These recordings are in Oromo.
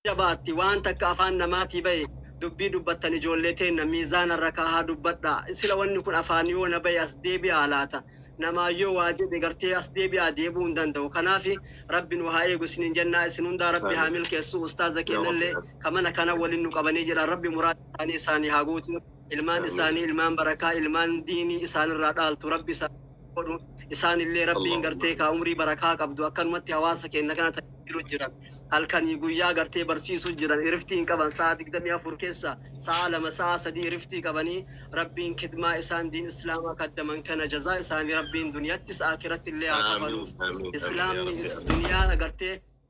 jabaatti waan takka afaan namaatii bahe dubbii dubbattan ijoollee teenna miizaana irra kaahaa dubbadha sila wanni kun afaan yoo na bahe as deebi'aa laata namaa yoo waa jedhe gartee as deebi'aa deebi'uu hin danda'u kanaaf rabbi nu haa eegu isiniin jennaa isin hundaa rabbi haa milkeessu ustaaza keenyallee ka mana kana waliin nu qabanii jira rabbi muraa isaanii isaanii haa guutu ilmaan Amiin. isaanii ilmaan barakaa ilmaan diinii isaanirraa dhaaltu rabbi isaan godhu isaanillee rabbiin Allahumma. gartee kaa umrii barakaa qabdu akkanumatti hawaasa keenya kana tajaajilu jiran halkanii guyyaa gartee barsiisu jiran iriftii hin qaban sa'a digdamii afur keessa sa'a lama sa'a sadii iriftii qabanii rabbiin kidmaa isaan diin islaamaa kaddaman kana jazaa isaanii rabbiin duniyattis akiratti illee haa kafaluuf Amiin. Amiin. Amiin. Yaa Rabbi. islaamni duniyaa agartee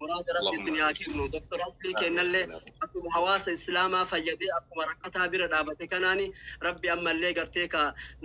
Muraa jara Allahumma isin yaa amiin. kennu. Doktor Aslii kennallee akkuma hawaasa Islaamaa fayyadee akkuma rakkataa bira dhaabate kanaani Rabbi ammallee gartee ka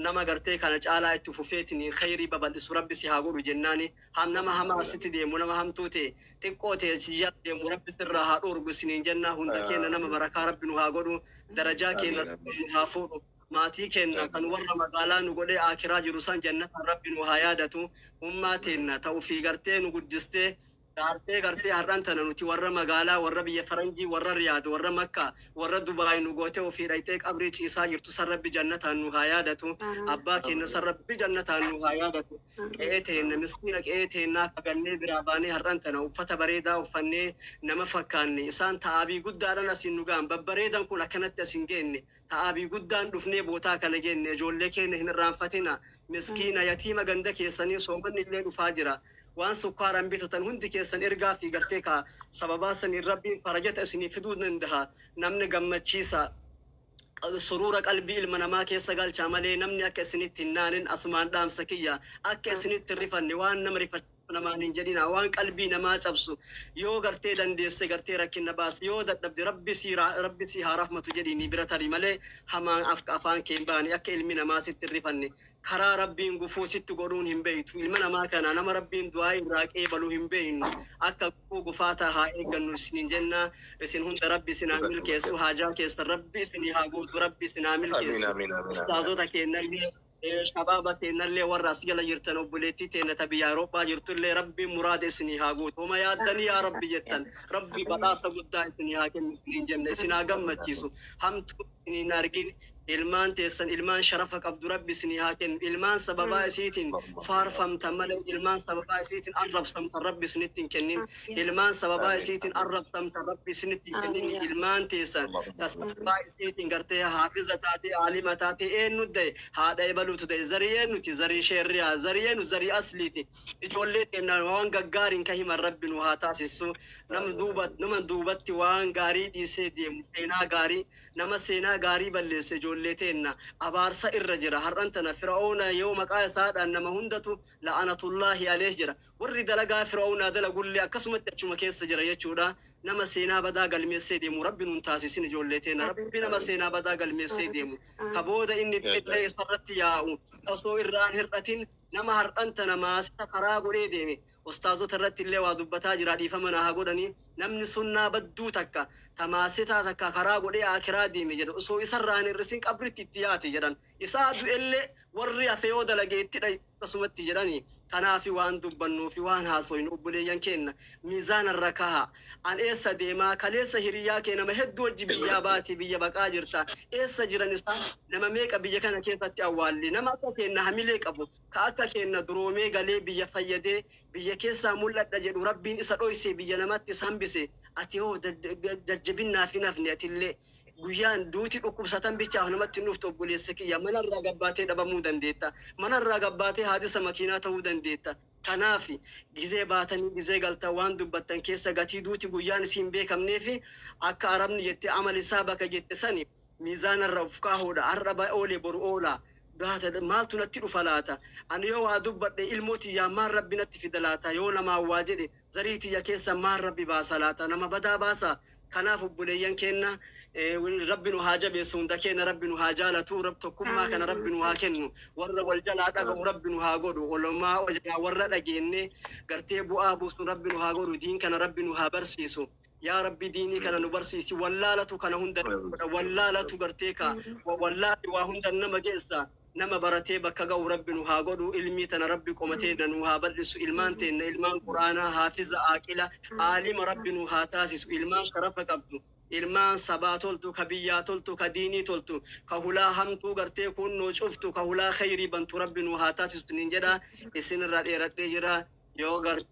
nama gartee kana caalaa itti fufeetini khayrii babal'isu Rabbi si haa godhu jennaani. Ham nama hamaa sitti deemu nama hamtuu ta'e xiqqoo ta'e si jala deemu Rabbi sirraa haa dhoorgu isiniin jennaa hunda keenna nama barakaa Rabbi nu haa godhu darajaa keenna Rabbi nu haa fuudhu. Maatii keenna kan warra magaalaa nu godhee Aakhiraa jiru san jannataan Rabbi nu haa yaadatu. Ummaa teenna ta ufii gartee nu guddistee, dhaartee gartee har'an tana nuti warra magaalaa, warra biyya faranjii, warra Riyaad, warra Makkaa, warra Dubaay nu gootee ufii dhayxee qabrii ciisaa jirtu san Rabbi jannataan nu haa yaadatu. Abbaa keenna san Rabbi jannataan nu haa yaadatu. Qe'ee teenna, miskiina qe'ee teennaa ka gannee biraa baanee har'an tana uffata bareedaa uffannee nama fakkaanne, isaan ta aabii guddaadhaan asiin nu gahan, babbareedan kun akkanatti asiin geenne, ta abi guddaan dhufnee bootaa kana geenne ijoollee keenya hin irraanfatina miskiina yatiima ganda keessanii soomanni illee dhufaa jira waan sukkaaran bitatan hundi keessan ergaa fi gartee kaa sababaa saniin rabbiin farajata isinii fiduu dandaha namni gammachiisa suruura qalbii ilma namaa keessa galchaa malee namni akka isinitti hin naanin asumaan dhaamsa kiyya akka isinitti hin rifanne waan nama rifachiisa namaan hin jedhinaa waan qalbii namaa cabsu yoo gartee dandeesse gartee rakkinna baasi yoo dadhabde rabbi sii rabbi sii haa rahmatu jedhiini bira tari malee hamaan afk afaan kee hin baane akka ilmi namaa sitti hin rifanne karaa rabbiin gufuu sitti godhuun hin beeytu ilma namaa kana nama rabbiin du'aa'ii irraa qeebalu hin beeynu akka gufuu gufaataa haa eeggannu isiniin jenna isin hunda rabbi isin haa milkeessu haajaa keessan rabbi isinii haa guutu rabbi isin haa Amiin milkeessu amiin amiin amiin. ustaazota keennallee Shabaaba teennallee warra as jala jirtan obboleettii teenna ta biyya Awurooppaa jirtullee Rabbiin muraada isinii haa guutu. Homa yaaddanii yaa Rabbi jettan Rabbi badhaasa guddaa isinii haa kennu isiniin jenna. Isin haa gammachiisu. Hamtuu isin hin argin. Ilmaan teessan ilmaan sharafa qabdu Rabbi isinii haa kennu. Ilmaan sababaa isiitiin faarfamtan malee ilmaan sababaa isiitiin arrabsamtan Rabbi isinitti hin kennin. ilmaan sababaa isiitiin arrabsamtan rabbi isinitti hin kennini ilmaan teessan ta sababaa isiitiin gartee haafiza taatee aalima taatee eenyu da'e haadha ebaluutu da'e zarii eenyuti zarii sheerriyaa zarii eenyu zarii asliiti ijoollee teenna waan gaggaariin ka himan rabbi nu haa taasissu nam duuba nama duubatti waan gaarii dhiisee deemu seenaa gaarii nama seenaa gaarii balleesse ijoollee teenna abaarsa irra jira har'an tana fira'oona yoo maqaa isaadhaan nama hundatu la'anatullaahi aleeh jira Warri dalagaa Fir'awnaa dalagullee akkasumatti achuma keessa jira jechuudha. Nama seenaa badaa galmeessee deemu Rabbi nun taasisin ijoollee teenna. Rabbi nama seenaa badaa galmeessee deemu. Ka booda inni du'ellee isarratti yaa'u. Ka osoo irraa hin hir'atin nama har'an tana maasita karaa godhee deeme. Ustaazota irratti illee waa dubbataa jira dhiifama naa haa godhanii. Namni sunnaa badduu takka ta maasitaa takka karaa godhee aakiraa deeme jedhan. Osoo isarraa hin hir'isin qabritti itti yaate jedhan. Isaa du'ellee warri hafe yoo dalage itti dha'i akkasumatti jedhani. Tanaafi waan dubbannuufi waan haasoynu obboleeyyan keenna miizaana irra kahaa. An eessa deemaa? Kaleessa hiriyyaa kee nama hedduu wajji biyyaa baate biyya baqaa jirta. Eessa jiran isaan? Nama meeqa biyya kana keessatti awwaalle? Nama akka keenna hamilee qabu, ka akka keenna duroomee galee biyya fayyadee biyya keessaa mul'adha jedhu Rabbiin isa dhoysee biyya namatti isa hambise ati hoo jajjabinnaafi hin hafne atillee? Guyyaan duuti dhukkubsatan bichaaf namatti hin dhuftu obboleessa kiyya. Mana irraa gad baatee dhabamuu dandeetta. Mana irraa gad baatee haadisa makiinaa ta'uu dandeetta. Kanaaf gizee baatanii gizee galtan waan dubbattan keessa gatii duuti guyyaan isii hin beekamnee fi akka Arabni jette amal hisaabaka jette sani miizaana irra of kaahuudha. Har'a ba oole boru oola. Gaata maaltu natti dhufa laata? Ani yoo waa dubbadhe ilmoo tiyyaan maal Rabbi natti fida laata? Yoo namaan waa jedhe Zarii tiyya keessa maal rabbi baasa laata? Nama badaa baasa? Kanaaf obboleeyyan keenna rabbi nu haa jabeessu hunda keenna rabbi nu haa jaalatu rab tokkummaa kana rabbi nu haa kennu warra wal jalaa dhaga'u rabbi nu haa godhu olomaa jalaa warra dhageenne gartee bu'aa buusun rabbi nu haa godhu diin kana rabbi nu haa barsiisu Yaa rabbi diinii kana nu barsiisi wallaalatu kana hunda nama godha wallaalatu gartee ka wa- wallaalli waa hundan nama geessa nama baratee bakka ga'u rabbi nu haa godhu ilmii tana rabbi qoma teenna nu haa bal'isu ilmaan teenna ilmaan quraanaa haafiza aaqila aalima rabbi nu haa taasisu ilmaan sharafa qabdu ilmaan sabaa toltu ka biyyaa toltu ka diinii toltu ka hulaa hamtuu gartee kuunnoo cuftu ka hulaa kheyrii bantu rabbi nu haa taasisu isiniin jedha isinirraa dheeradhee jira yoo gartee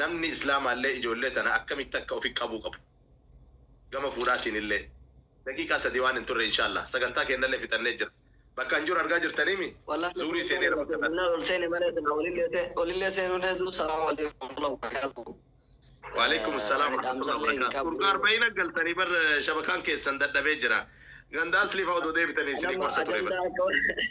Namni Islaamaallee ijoollee tana akkamitti akka ofi qabuu qabu gama fuudhaatiinillee daqiiqaa sadii waan hin turre inshaallaa sagantaa keennallee fixannee jirra. Bakka an jiru argaa jirtanii mii? Wallahi Zuurii sagantaa seeneera keenya bakka kana. fixannaan ol seene malee silaa olillee se- olillee seenuun hedduu salaamu alaikum warahmatullahi wabarakaatuh. Waaleykum Eh, salaam ani warahmatullahi dhaamsallee hin wabarakaatuh. Urgaa qabu. arba'ina galtanii bar shabakaan keessan dadhabee jira. Ganda asliifaa odoo deebitanii isinii Anamma gorsa ture bar. ajandaa akka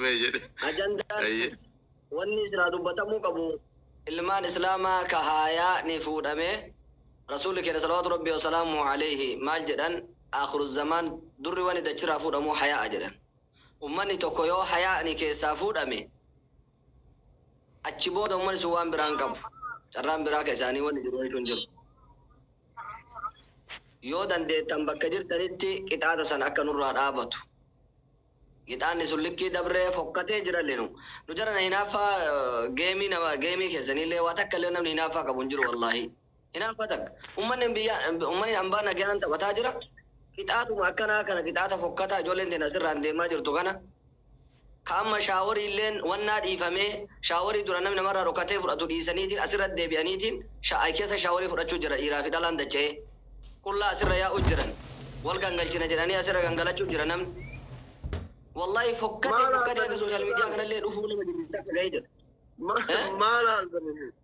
Mee jedhe. Ajandaan Ayyee. wanni siraa dubbatamuu qabu ilmaan islaamaa ka haayaa ni fuudhame rasuulli keenya salawaatu rabbii wasalaamu alayhi maal jedhan akhiru zamaan durri wani dachiraa fuudhamu hayaa jedhan ummanni tokko yoo hayaani keessaa fuudhame achi booda ummanni sun waan biraan qabu carraan biraa ka isaanii wanni jiru jechuun jiru Yoo dandeettan bakka jirtanitti qixaata san akka nurraa dhaabatu. Qixaanni sun likkii dabree fokkatee jiralle nu. Nu jarana hinaaffaa geemii nama geemii keessaniillee waa takka illee namni hinaaffaa qabu hin jiru wallaahii. Hinaaffaa takka. Ummanni biyya ummanni ambaa nagayaan taphataa jira. Qixaatuma akkanaa kana qixaata fokkataa ijoolleen teenna asirraan deemaa jirtu kana. Ka amma shaaworiilleen wannaa dhiifamee, shaaworii duraan namni namarraa dhokatee fudhatu dhiisaniitiin asirratti deebi'aniitiin sha ay keessa shaaworii fudhachuu jira dhiiraa fi dhalaan dacha'ee. Qullaa asirra yaa'uu jiran. Wal gangalchina jedhanii asirra gangalachuu jira namni. Wallahi fokkatee fokkatee akka social media kanallee dhufuu nama jibbisiisaa akka gahee jira. Maal argame?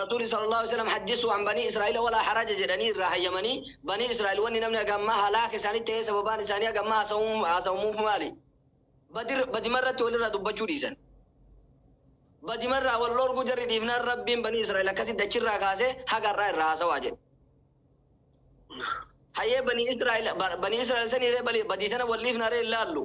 Rasuulli sallallaahu aleyhi wasallam hajjissuu an banii Israa'iila walaa haraja jedhanii irraa hayyamanii, banii Israa'iil wanni namni haga ammaa halaaka isaanitti tahee sababaan isaanii haga ammaa haasawamuuf maali? Badr badima irratti walirraa dubbachuu dhiisan. Badima irraa wal dhoorguu jarri dhiifnaan Rabbiin banii Israa'iil akkasitti achirraa kaasee haga har'aa irraa haasawaa jedhe. Hayyee banii Israa'iil banii Israa'iil saniiree badii tana wal dhiifnaaree hin laallu.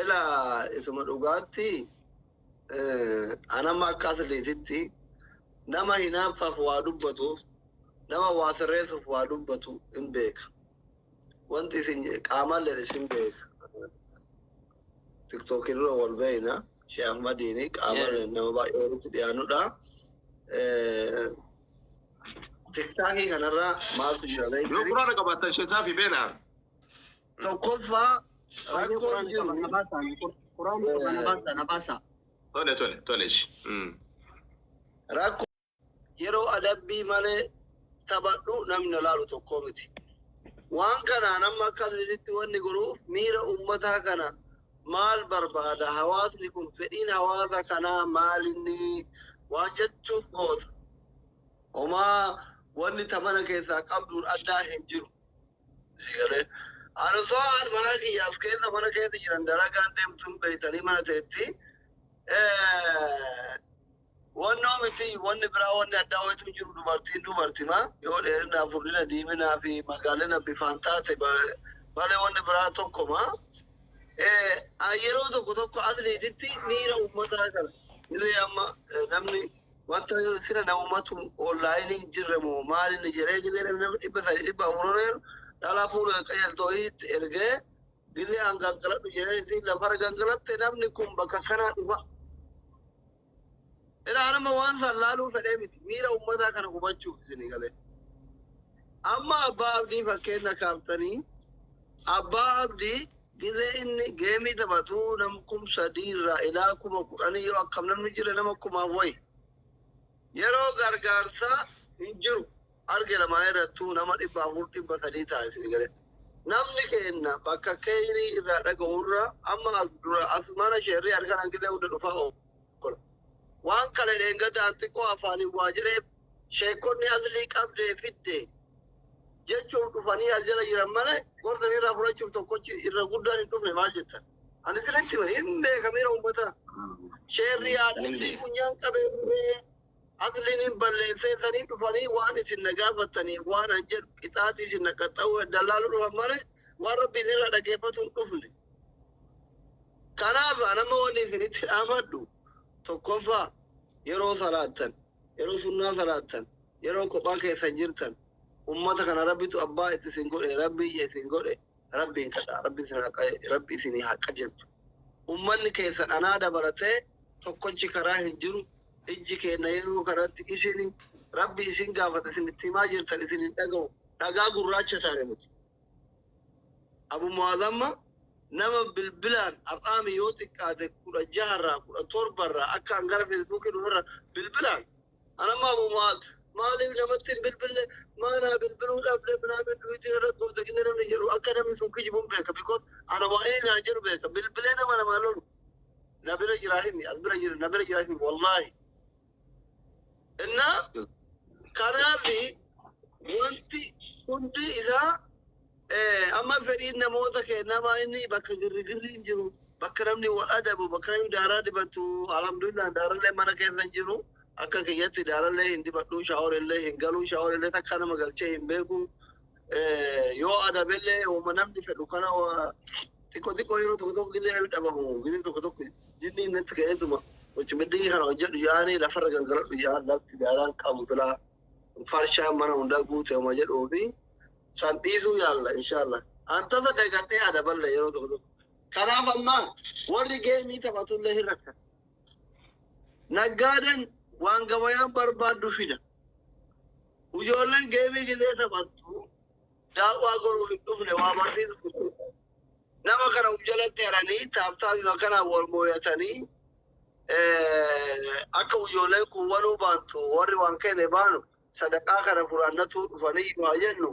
Ela isuma dhugaatti anamma akka asliititti nama hinaaffaaf waa dubbatuuf nama waa sirreessuuf waa dubbatu hin beeka. Wanti isin qaamaalleen isin beeka. Tiktookiin dura wal beeyna. Shee Ahmadiin qaamaalleen nama baay'ee walitti dhiyaanudha. Tiktaakii kanarraa maaltu jira beektu? Yoo quraana qabaattan sheesaa fi beena. Tokkoffaa rakkoon jiru. Tole tole tole ishi. Mm. Rakko yeroo adabbii malee taphadhu namni na laalu tokkoo miti. Waan kanaan amma akka asirratti wanni godhuuf miira uummataa kana maal barbaada? Hawaasni kun fedhiin hawaasa kanaa maal inni waan jechuuf goota? Homaa wanni taphana keessaa qabduun addaa hin jiru. Eegalee. Ani osoo haadha manaa kiyyaaf keessa mana keessa jiran dalagaan deemtuun beektanii mana ta'etti wannoo miti wanni biraa wanni addaa wayitu hin jiru dubartiin dubartima yoo dheerina furdina diiminaa fi magaalina bifaan taate ba- malee wanni biraa tokkoma. Eh, ah, yeroo tokko tokko atleetitti miira uummataa kana illee amma eh, namni Wanta sila namumatu online hin jirre moo maal inni jedhee gizee namni nama dhibba sadii dhibba afur ol jedhu dhalaa fuula qajeeltoo itti ergee gizee an gangaladhu jedhee isiin lafarra gangalatte namni kun bakka kanaa dhufa. Ilaa nama waan san laaluu fedhee miti miira ummataa kana hubachuuf isinii galee. Amma abbaa abdii fakkeenya kaaftanii abbaa abdii Gizee inni geemii taphatu nam kum sadii irraa ilaa kuma kudhanii yoo akkam namni jira nama kumaan wayi. Yeroo gargaarsaa hin jiru arge lamaa irrattuu nama dhibba afur dhibba sadii ta'a isin gale. Namni keenna bakka keeyrii irraa dhaga'u irra amma as dura as mana sheerrii arganan gizee hunda dhufaa oola. Waan kale dheengadda an xiqqoo afaaniin waa jedheef sheekkonni aslii qabdee fidde jechuuf dhufanii as jala jiran malee gorsa irraa fudhachuuf tokkochi irra guddaan hin dhufne maal jettan? Ani sinitti hima hin beekamira uummata sheerri yaadni funyaan qabee asliin hin balleessee sanii dhufanii waan isin na gaafattaniif waan an jedhu qixaatii isin na qaxxa'uu dallaaluu dhufan malee waan rabbiin irra dhageeffatu hin dhufne. Kanaaf nama wanni isinitti dhaafadhu tokkoffaa yeroo salaattan yeroo sunnaa salaattan Yeroo kophaa keessan jirtan ummata kana rabbitu abbaa itti isin godhe rabbi ija isin godhe rabbiin kadhaa rabbi isin haa qaje- rabbi isinii haa qajeelchu ummanni keessan anaa dabalatee tokkochi karaa hin jiru ijji keenna yeroo kanatti isini rabbi isin gaafata isin itti himaa jirtan isin hin dhaga'u dhagaa gurraacha taane nuti abu mu'azamma nama bilbilaan har'aami yoo xiqqaate kudha jaharraa kudha torbarraa akka an gara feesbuukii dhuferra bilbilaan Anamma Abu Mu'aaz maaliif namatti hin bilbille maa naa bilbiluu dhabde minaamin duwitiin irra goote gidee namni jedhu akka namni sun kijibuun beeka bikoon ana waa'ee naa jedhu beeka bilbilee nama namaa lolu na bira jiraa himi as bira jira na bira jiraa himi wallaahi innaa kanaafi wanti hundi isaa Amma fedhiin namoota keenyaa maa inni bakka girrigirri hin jiru, bakka namni wal adabu, bakka namni daaraa dibatu, alhamdulillah daarallee mana keessa hin jiru. Akka kiyyatti daarallee hin dibadhu, shaaworillee hin galu, shaaworillee takka nama galchee hin beeku. Yoo adabellee wama namni fedhu kana xiqqoo xiqqoo yeroo tokko tokko gizee namni dhabamu, gizee tokko tokko jinniin natti ka'eetuma. Wacimiddii kana hojjedhu yaani lafarra gangaladhu yaa lafti daaraan qabu silaa farshaan mana hundaa guute homa jedhuufi san dhiisuu yaalla inshaalla. An tasa dagannee yaada balla yeroo tokko tokko. Kanaaf amma warri geemii taphatullee hin rakkan. Naggaaden waan gabayaan barbaaddu fida. Ijoolleen geemii gisee taphattu daawwaa goruuf hin dhufne waa barsiisuuf nama kana uf jalatti haranii taaptaafii akkanaan wal mooyatanii Akka ujoolleen kun waluu baantu warri waan kenne baanu sadaqaa kana furaannatuu dhufanii yoo haa jennu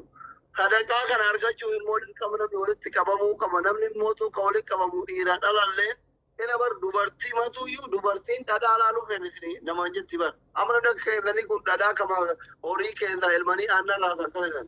sadaqaa kana argachuuf immoo dirqama namni walitti qabamuu qaba. Namni immoo tuu kan walitti qabamu dhiira dhalalleen ina bar dubartii matuyyuu dubartiin dhadhaa laaluu kennitini namaan jetti bar. Amma namni akka keessanii kun dhadhaa kama horii keessaa elmanii aannan raasan kana jedhan.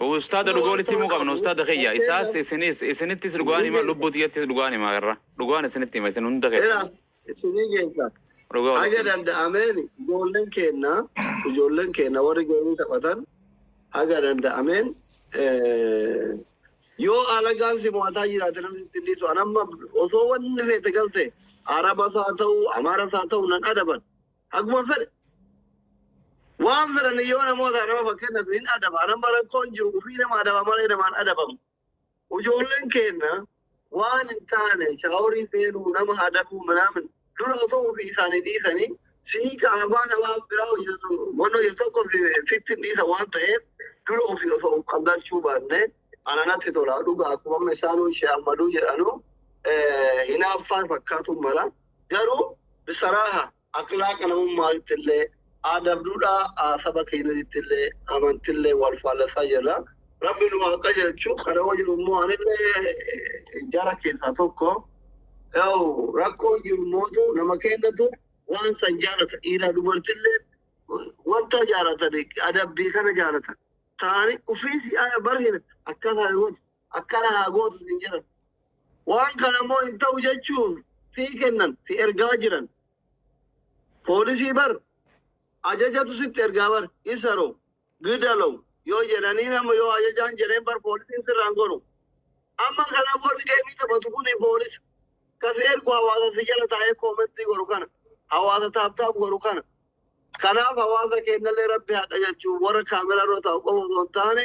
Ustaada dhugaa walitti himuu qabna ustaada kiyya isaas isinis isinittis dhugaan hima lubbuu tiyyattis dhugaan hima irra dhugaan isinitti hima isin hunda keessa isinii keessa dhugaa haga walitti danda'ameen ijoolleen keenna ijoolleen keenna warri geemii taphatan haga danda'ameen eh, yoo alagaan si mo'ataa jiraate namni itti hin dhiisu an amma osoo wanni feete galte arabas haa ta'u amaaras haa ta'u nan adaban Akkuma fedhe waan fedhan yoo namoota nama fakkeenyaaf hin adaba anamma rakkoon jiru ofii nama adaba malee namaan adabamu. Ijoolleen keenya waan hin taane shaaworii seenuu nama adabuu minaamin dura osoo ofii isaanii dhiisanii sii kaafaa namaa biraa hojjetu wanna hojjetu tokko sitti hin dhiisa waan ta'eef dura ofii osoo of qabdachuu baannee ana natti tola dhugaa akkuma amma isaanuu ishee ammaduu jedhanu hinaaffaan fakkaatu mala Garuu bisaraaha akhlaaqa namummaatittillee, aadaaf duudhaa saba keenyatittillee, amantillee wal faallasaa jirra. Rabbi nu haa qajeelchu. Kana yoo jiru immoo anillee jara keessaa tokko. Yoo rakkoon jiru mootu nama keenyatu waan san jaalata. Dhiiraa dubartillee wanta jaalatan adabbii kana jaalatan. Taa'anii ofii si'aaya barhina akkaataa yoo akkana haa gootu siin jedhan. Waan kana immoo hin ta'u jechuun si kennan, si ergaa jiran. Poolisii bar ajajatu sitti ergaa bar isaro gidalow yoo jedhanii nama yoo ajajaan jedheen bar poolisiin sirraan gonu. Amma kana warri deemii taphatu kun poolisa. Kasi ergu hawaasa si jala taa'ee koomentii godhu kana. Hawaasa taaptaaf godhu kana. Kanaaf hawaasa keenyallee rabbi haa qajeelchu warra kaameraa irra taa'u qofa osoo hin taane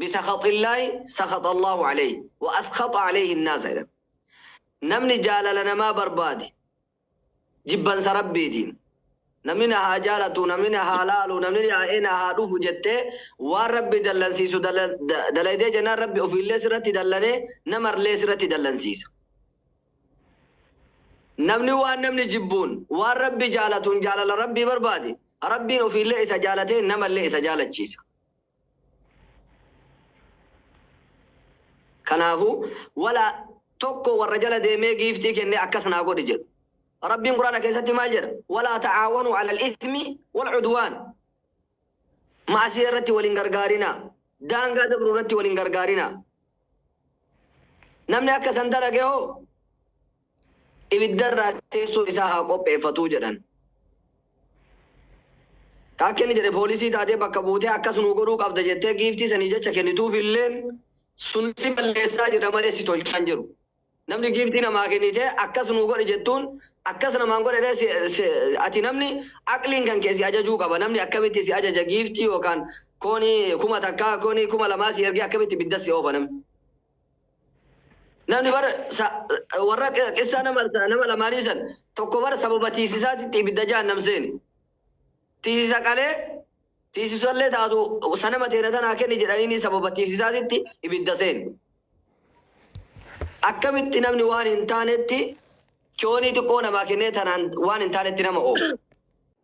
bisakhaxillaahi sakhaxallaahu aleyhi wa askhaxa aleyhi nnaasa jedhan. Namni jaalala namaa barbaade jibbansa Rabbiitiin namni na haa jaalatu, namni na haa laalu, namni yaa'ee na haa dhufu jettee waan Rabbi dallansiisu dala- da- dalaydee jennaan Rabbi ofiillee sirratti dallanee namarlee sirratti dallansiisa. Namni waan namni jibbuun waan Rabbi jaalatuun jaalala Rabbii barbaade Rabbiin ofiillee isa jaalatee namallee isa jaalachiisa. Kanaafu, wala tokko warra jala deemee giiftii kennee akkas naa godhi jedhu. Rabbiin Qur'aana keessatti maal jedha? Walaa ta'aawanuu 'alal ithmi wal 'udwaan. Ma'asiya irratti wal hin gargaarinaa. Daangaa dabru irratti wal hin gargaarinaa. Namni akka san dalage hoo? ibiddarraa teessoo isaa haa qopheeffatu jedhan. Ka akka inni jedhe poolisii taatee bakka buutee akkas nuu godhuu qabda jettee giiftii sanii jecha kennituufilleen sun si balleessaa jira malee si tolchaa hin jiru. Namni giiftii namaa kennitee akkas nuu godhi jettuun akkas namaan godhe ree si, si, ati namni aqliin kan kee si ajajuu qaba. Namni akkamitti si ajaja giiftii yookaan koonii kuma takkaa koonii kuma lamaa si ergee akkamitti ibiddas si oofa namni. Namni bar sa- warra qissaa nama nama lamaanii san tokko bar sababa tiisisaatitti ibidda jahannam seene. Tiisisa qalee tiisisallee taatu sanama teena tanaa kenni jedhaniini sababa tiisisaatitti ibidda seene. Akkamitti namni waan hin taanetti kiyoonii xiqqoo namaa kennee tanaan waan hin taanetti nama oofu.